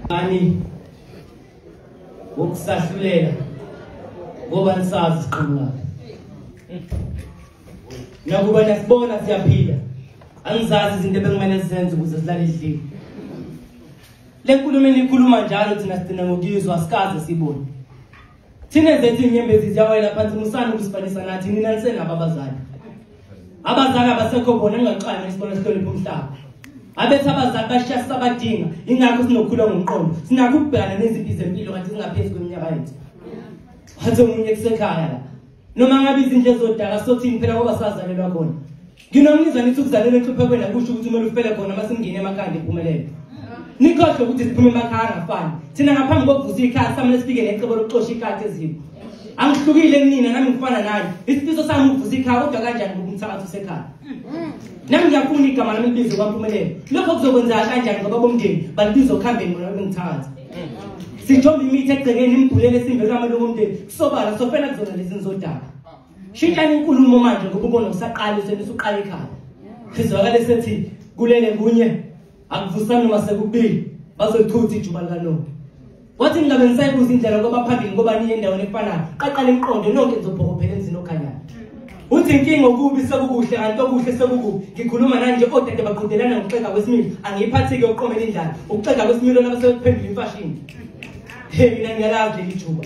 ani wokusahlulela ngoba nisazi siqhamuka nakuba nasibona siyaphila angizazi izinto ebekumele sizenze ukuze silale edlile le nkulumo eniyikhuluma njalo thina sigcina ngokuyizwa asikaze siyibone thina zethu inyembezi ziyawela phansi musani ukusifanisa nathi nina nisenabo abazali abazali abasekho bona ningaxana isikole sihlonipha umhlaba abethi abazali bashiya sisabadinga ingakho sinokukhula ngomqondo sinakho ukubhekana nezimpi zempilo kanti zingaphezu kweminyaka yethu wathi omunye kusekhaya la noma ngabe izindle zodaka sothini phela ngoba sazalelwa khona nginomnizwa nithi ukuzalelwa enhluphekweni akusho ukuthi kumele ufele khona uma singingene emakhanda iphumelele nikhohlwe ukuthi siphume emakhaya angafani thina ngaphambi kokuvusa ikhaya samele sifike necebo lokuxosha ikati ezimo angihlukile kunina nami ngifana naye isifiso sami ukuvusa ikhaya kodwa kanjani ngokumthakathi usekhaya nami ngiyafuna igama lami libize kwampumelelo lokho kuzokwenza kanjani ngoba bomndeni balibiza okuhambeni ngona bengithakathi sithomba imithi egcekeni imgulele simbe kamalungu omndeni kusobala sofela kuzona lezi nizodaba shintshani inkulumo manje ngoba ubona usaqala useni usuqala ekhaya sizwakale sethi kulele kunye akuvusani noma sekubili bazochutha ijuba likalonto wathi ningabe nisayibuza indlela ngoba phambili ngoba niye endaweni efanayo qaqala imiqondo nonke nizobhokophela emzini okhanyayo uthi inkinga okubi sekukuhle kanti okuhle sekukubi ngikhuluma nanje odade baqhudelana ngokuxega kwesimilo angiyiphathi-ke ukuqomela indlala ukuxega kwesimilo laba sebekuphendula imfashini he mina ngiyalazi leli juba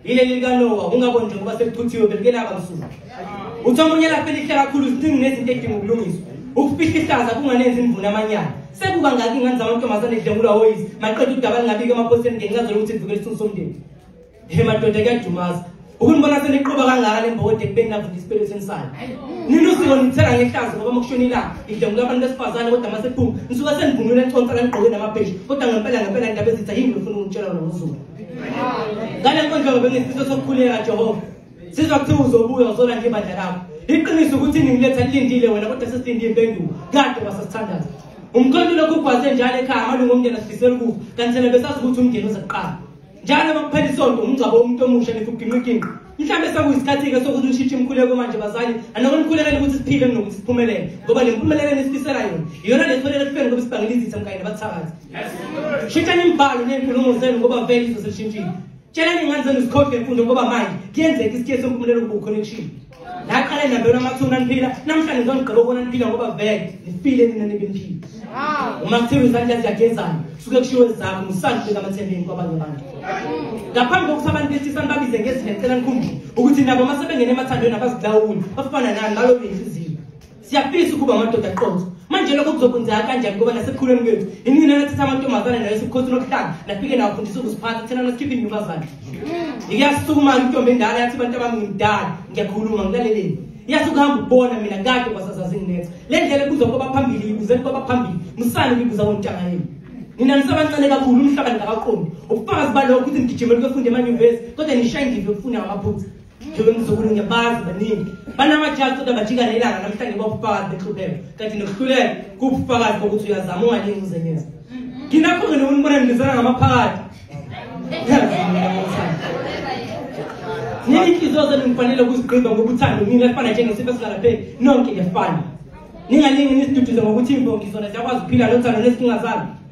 yileli likanowa ungaboni nje ngoba sekuphuthiwe belikelaba msuku uthi omunye lapho elihle kakhulu ziningi nezinto edinga ukulungiswa ukufihla ihlaza kunganenzi imvuna amanyala sekuba ngaki ingane zamantombazane edlengulwa woyisi maqeda udaba lingabiki emaphoseni ngencazo lokuthi livikela isithunzi somndeni Hey madoda kuyadumaza. Ukunibona seniqoba kangaka lembode kubeni navunda isipelo sensana. Nina usiko nithela ngehlazo ngoba makushona ilanga. Idlengu labantu besifazane kodwa masephuma. Nisuka senivunule enconsa kanigqoke namabheshi kodwa ngempela ngempela indaba ezitha yini ufuna ukutshela wena uZulu. Ngale nkonzo bengisifiso sokukhuleka Jehova. Sizwa kuthiwa uzobuya uzola nje ibandla lakho. Iqiniso ukuthi ningiletha lilindile wena kodwa sesilinde impendulo. Kade wasesithandaza. Umkhonto lokhu ugwaze njalo ekhaya amalungu omndeni asifisela ukufa kanti thina besazi ukuthi umndeni uzoqala. njalo uma kuphela isonto umngcwabo womuntu omusha nithi ugingqiginqi mhlawumbe sekuyisikhathi-ke sokuthi ushintshe imikhuleko manje bazali anoko nikhulekele ukuthi siphile kunokuthi siphumelele ngoba le mpumelelo enisifisela yona iyona le thwelele kufeni ngoba sibangela izitha mkanye nabathakathi shintshani imibhalo ney'nkulumo zenu ngoba vele izo selishintshile tshelani iy'ngane zenu zikhohlwe mfundo ngoba manje kuyenzeka isikhiye sempumelelo kuba ukhonekishile Naqale nabelwa amathuna niphila namhlanje ngizongigqiba ukubona niphila ngoba vele nifile nina nibe niphila. Uma kuthiwa izandla ziyagezana suke kushiwo ezakho ngisandle kamathembeni kwabanye abantu. Ngaphambi kokuthi abantu behlisa nibabize ngezindlela cela nikhumbule ukuthi nabo uma sebengena emathandweni abazilawuli bafana nani balobile siyafisa ukuba amadoda aqotho manje lokho kuzokwenzeka kanjani ngoba nasekukhuleni kwethu inina nathatha amantombazane nayo sikhosi nokuhlanga nafike nawafundisa ukuziphatha thina nasikhiphe intombazane ngiyasukumana intombi endala yathi abantu abami ngimdala ngiyakhuluma ngilaleleni yathi ukuhamba ukubona mina kade kwasazazinginetha le ndlela ebuzwa kwaba phambili ibuzeni kwaba phambili musani kuyibuza kontanga yenu nina nisabancane kakhulu umhlaba ningakaqondi ubufakazi balokho ukuthi nigijimele kwefunde emanyuvesi kodwa nishayindile ukufunda ngamaphutha njengoba ngizukulu ngiyabazi baningi banamajazi kodwa bajika nelanga namhlanje babufakazi benhluleko kanti nokuhluleka kubufakazi bokuthi uyazama ungalingi uzenyeza nginakho ngene unibona nibizana ngamaphakathi nini inhliziyo zenu ngifanele ukuzigqiba ngokuthanda mina kufana njengesifo esingalapheli nonke ngiyafana ningalingi nisiduduze ngokuthi imbongi zona ziyakwazi ukuphila lothando nezinkinga zalo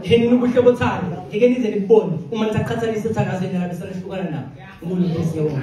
ngeke nina ubuhle bothando ngeke nize nikubone uma nisaqhathanisa uthando asenalabesana hlukana nabo ngulu nkosi yewona